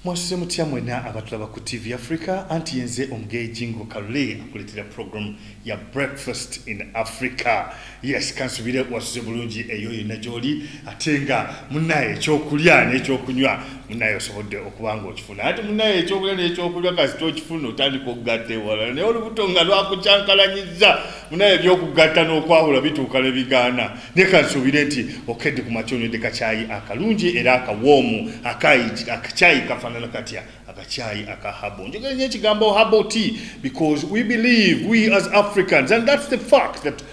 mwasuze mutya mwena abatulaba ku tv africa anti yenze omugeyi jingo kalule akuletera program ya breakfast in africa yes kansubire wasuze bulungi eyo yonna gyoli ate nga munaye ekyokulya nekyokunywa munaye osobodde okuba nga okifuna ati munaye ekyokulya nekyokunywa kasita okifuna otandika okugatta ewala naye olubuto nga lwakukyankalanyiza munaye ebyokugatta nokwawula bituuka nebigaana leka nsuubire nti okedde ku makya onywedde kakyayi akalungi era akawoomu akakyayi kafaanana katya akakyayi aka habo njogera nyo ekigambo habo t because we believe we as africans and thats the fact that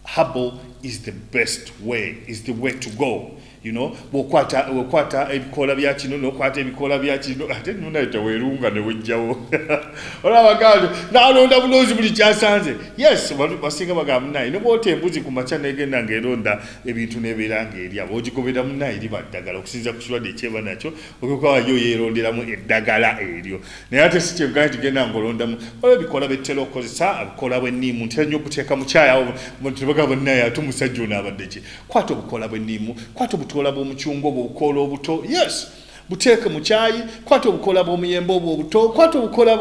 habo is the best way is the way to go you know bwokwata okwata ebikoola bya kino nokwata ebikoola bya kino ate nunaye tewerunga newejjawo olaba gandi nalonda buloozi buli kyasanze yes basinga bagamba munaye nebwota embuzi ku makya negenda ngaeronda ebintu nebeera ngaerya bogigobera munaye liba ddagala okusinza ku kirwadde ekyeba nakyo okyokawayo yeronderamu eddagala eryo naye ate si kyegana tigenda ngaolondamu oba ebikoola bettera okukozesa abikoola bweniimu ntera nyo okuteeka mukyayawo tebagamba munaye ate omusajja ono abadde ki kwata obukoola bw'enniimu kwata obutoola bw'omucunga obwo obukoola obuto yes buteeke mu kyayi kwata obukoola bw'omuyembe obwo obuto kwata obukoola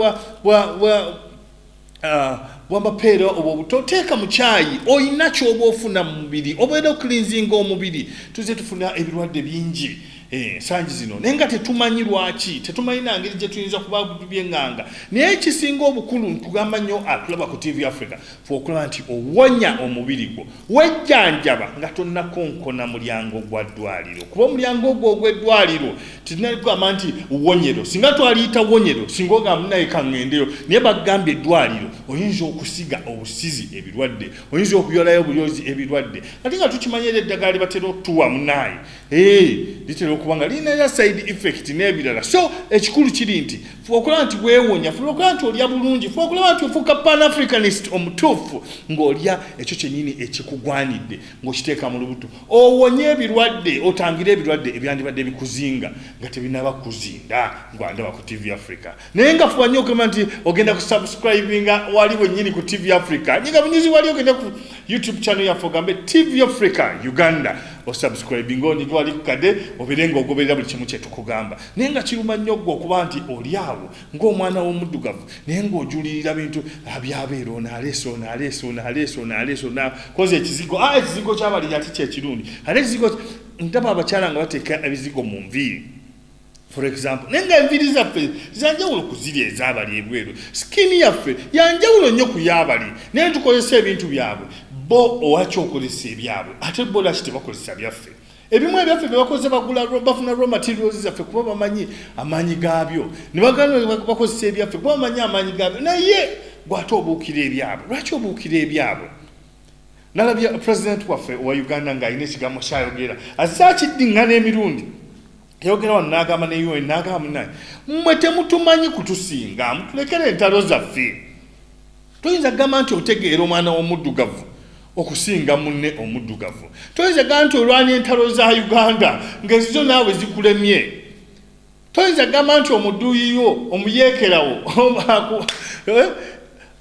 bwamapeera uh, obwo obuto teeka mu kyayi olina kyoba ofuna mu mubiri obeera okulinzinga omubiri tuze tufuna ebirwadde bingi ensangi eh, zino naye nga tetumanyi lwaki tetumanyi nangeri gye tuyinza kuba byeŋŋanga naye ekisinga obukulu ntugamba nnyo atulaba ku tv africa fe okulaba nti owonya omubiri gwo Wejjanjaba nga tonnakonkona mulyango gwa ddwaliro kuba omulyango ogwo ogw'eddwaliro tetunali kugamba nti wonyero singa twaliyita wonyero singa ogamba naye kaŋŋendeyo naye bagambye eddwaliro oyinza okusiga obusizi ebirwadde oyinza okuyolayo obulyozi ebirwadde ate nga tukimanya era eddagala libatera okutuwa munaayi litera okuba nga lirina era side effect n'ebirala so ekikulu kiri nti fuba okulaba nti weewonya fuba okulaba nti olya bulungi fuba okulaba nti ofuuka pan africanist omutuufu ng'olya ekyo kyennyini ekikugwanidde ng'okiteeka mu lubuto owonye ebirwadde otangire ebirwadde ebyandibadde bikuzinga nga tebinaba kuzinda ngwandaba ku tv africa naye nga fuba nnyo okugamba nti ogenda ku subscribinga wali wennyini ku tv africa nyinga bunyizi wali ogenda ku youtube channel yaffe ogambe tv africa uganda osubscribinga onyige wali kukade obeere nga ogoberera buli kimu kyetukugamba naye nga kiruma nnyo gwe okuba nti oli awo ng'omwana w'omuddugavu naye ng'ojulirira bintu abyabeera ah, onaaleese onaaleese onaaleese onaaleese onakoze ekizigo a ah, ekizigo kyabali yati kyekirungi ate ekizigo ndaba abakyala nga bateeka ebizigo mu nviiri for example naye nga enviiri zaffe zanjawulo ku ziri ezabali ebweru sikini yaffe yanjawulo nnyo ku yabali naye tukozesa ebintu byabwe bo owakyokozesa ebyabwe ate bo laki tebakozesa byaffe ebimu ebyaffe byebakoze bagula bafuna raw materials zaffe kuba bamanyi amaanyi gaabyo nebabakozesa ebyaffe kuba bamanyi amaanyi gaabyo naye gwate obuukira ebyabwe lwaki obuukira ebyabwe nalabye president waffe owa uganda ng'alina ekigambo kyayogera azze akiddiŋŋana emirundi yayogera wano n'agamba ne un n'agamba munaye mmwe temutumanyi kutusinga mutulekera entalo zaffe toyinza kugamba nti otegeera omwana w'omuddugavu okusinga munne omuddugavu toyinza kugamba nti olwana entalo za uganda ng'ezizo naawe zikulemye toyinza kugamba nti omuduuyiyo omuyeekerawo eh,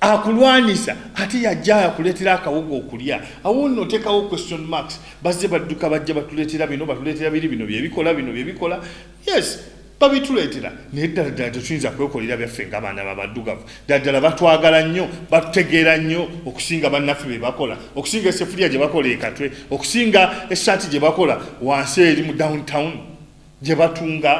akulwanyisa ate yajja akuleetera akawuga okulya awo nno otekawo question marks bazze badduka bajja batuleetera bino batuleetera biri bino byebikola bino byebikola yes babituleetera naye ddala ddala tetuyinza kwekolera byaffe nga abaana babaddugavu ddala ddala batwagala nnyo batutegeera nnyo okusinga bannaffe be bakola okusinga esefuliya gye bakola ekatwe okusinga essaati gye bakola wansi eri mu downtown gye batunga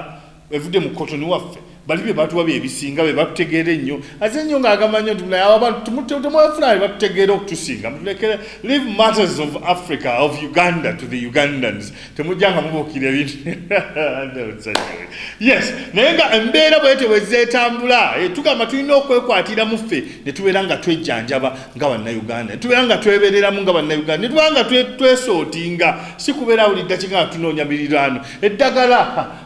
evudde mu kotoni waffe bali bye batuwa bye bisinga be batutegeera ennyo aze ennyo ng'agamba nnyo nti naye abantu temwafuna be batutegeera okutusinga mutulekere live matters of africa of uganda to the ugandans temujja nga mubuukira ebintu yes naye nga embeera bwete bwe zeetambula eh, tugamba tulina okwekwatira mu ffe ne tubeera nga twejjanjaba nga bannayuganda netubeera nga twebereramu nga bannayuganda netubeera nga twesootinga si kubeera buli ddakiika nga tunoonya miriraano eddagala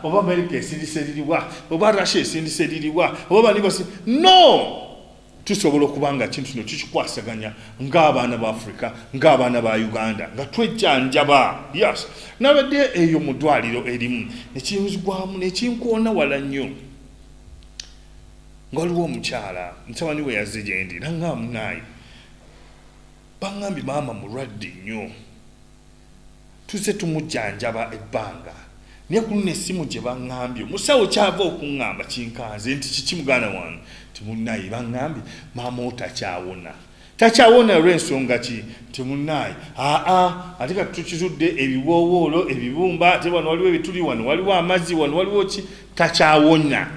oba amerika esindisa eririwa oba russia esindisa eririwa oba banibasi no tusobola okuba nga kintu kino tukikwasaganya ng'abaana ba afrika ng'abaana ba uganda nga twejjanjaba yes nabadde eyo mu ddwaliro erimu nekinzigwamu nekinkoona wala nnyo nga waliwo omukyala mutabani we yazze gye ndi nanga munaayi bangambye maama mulwadde nnyo tuzze tumujjanjaba ebbanga naye ku luno essimu gye bangambye omusawo kyava okuŋŋamba kinkanze nti kiki muganda wange timunaayi bangambye maama otakyawona Takyawona lw'ensonga ki nti munnaaye aa ate kati tukizudde ebiwoowoolo ebibumba ate wano waliwo ebituli wano waliwo amazzi wano waliwo ki takyawona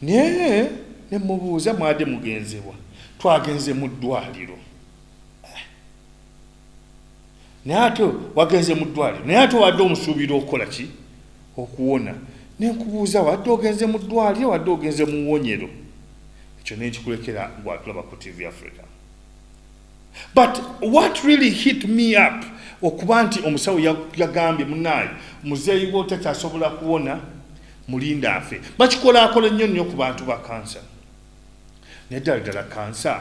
naye ne mubuuza mwade mugenzewa twagenze mu ddwaliro naye ate wagenze mu ddwaliro naye ate wadde omusuubira okukola ki okuwona nenkubuuza wadde ogenze mu ddwaliro wadde ogenze mu wonyero ekyo nenkikulekera gwatulaba ku tv africa but what really hit me up okuba nti omusawo yagambye munaayi muzeeyi wo takyasobola kuwona mulinda afe bakikolakola nnyo nnyo ku bantu ba kansa naye ddala ddala kansa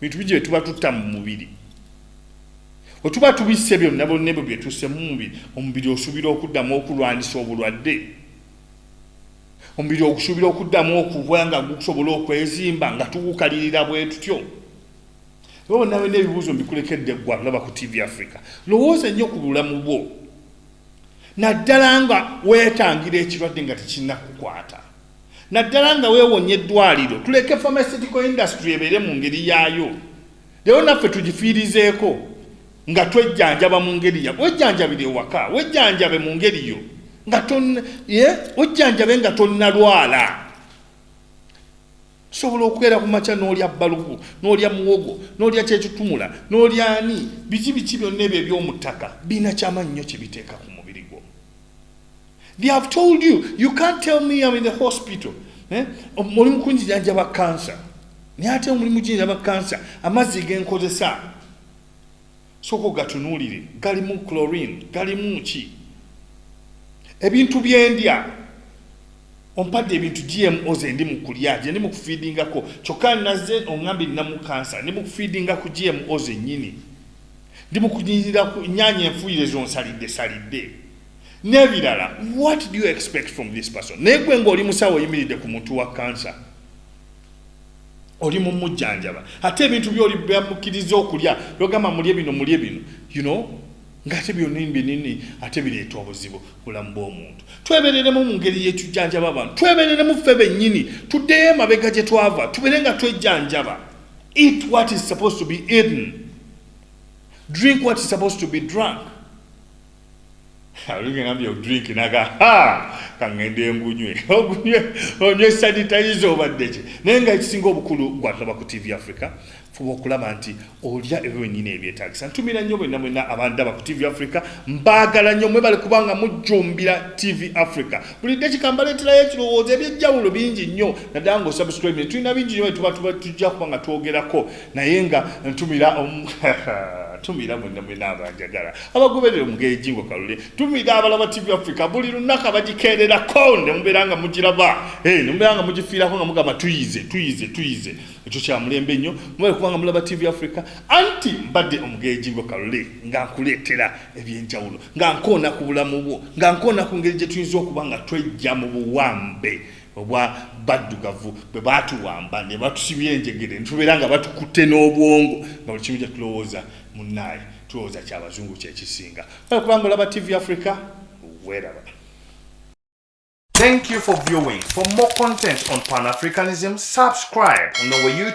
bintu bigi byetuba tutta mu mubiri wetuba tubisse byonna bonna ebyo byetusse mu mubiri omubiri osuubira okuddamu okulwanyisa obulwadde omubiri ogusuubira okuddamu okuba nga gukusobola okwezimba nga tugukalirira bwe tutyo oba nawe n'ebibuuzo mbikulekedde eggwa laba ku tv africa lowooza ennyo ku bulamu bwo naddala nga weetangira ekirwadde nga tekinnakukwata naddala nga weewonye eddwaliro tuleke pharmaceutical industry ebeere mu ngeri yaayo leero naffe tugifiirizeeko nga twejjanjaba mu ngeri ya wejjanjabire ewaka wejjanjabe mu ngeri yo nga wejjanjabe nga tonnalwala tusobola okubeera ku makya n'olya balugu n'olya muwogo n'olya kyekitumula n'olya ani biki biki byonna ebyo ebyomuttaka birina kyamaanyi nnyo kye biteeka ku They have told you, you can't tell me I'm in the hospital. Eh? Muli mukunjijanja ba cancer. Ni ate muli mujinja ba cancer. Amazi genkozesa. Soko gatunulire, galimu chlorine, galimu ki. Ebintu byendya. Ompadde ebintu GMO ze ndi mu kulya, je ndi mu feedingako. Choka naze ongambi namu cancer, ndi mu feedingako GMO ze nyini. ndi mu kunyirira ku nyaanya enfuuyire zonsalidde salidde n'ebirala what do you expect from this person naye gwe ng'oli musawo oyimiridde ku muntu wa kansa oli mumujjanjaba ate ebintu byoli byamukkiriza okulya logamba mulye bino mulye bino you know ngaate byonini binini ate bireeta obuzibu bulamu bw'omuntu twebereremu mu ngeri yetujjanjaba abantu twebereremu ffe bennyini tuddeyo emabega gye twava tubeere nga twejjanjaba eat what is supposed to be eaten drink what is supposed to be drunk aligambye drink naga ha kangende engunywe ogunywe onywe sanitizer obadde ki naye nga ekisinga obukulu gwatulaba ku tv africa fuba okulaba nti olya ebyo byenyini ebyetagisa ntumira nnyo bwenna mwenna abandaba ku tv africa mbaagala nnyo mwe bali kubanga mujjumbira tv africa buli dakika mbaleeterayo ekirowoozo ebyejjawulo bingi nnyo naddala nga osubscribe ne tulina bingi nnyo byetuba tujja kuba nga twogerako naye nga ntumira tumira mwena mwena abanjagala abagoberera omugenzi ngo kalule tumira abalaba tv africa buli lunaka bagikerera ko ne mubeera nga mugiraba hey, ne mubeera nga mugifiirako nga mugamba tuyize tuyize tuyize ekyo kya mulembe nnyo mubale kubanga mulaba tv africa anti mbadde omugenzi ngo kalule nga nkuleetera ebyenjawulo nga nkoona ku bulamu bwo nga nkoona ku ngeri gye tuyinza okuba nga twejja mu buwambe obwa baddugavu bwe baatuwamba ne batusibya enjegere netubeera nga batukutte n'obwongo nga buli kimu kyetulowooza munnaaye tulowooza kya bazungu kyekisinga oyo kubanga olaba tv africa weraba Thank you for viewing. For more content on Pan-Africanism, subscribe on our YouTube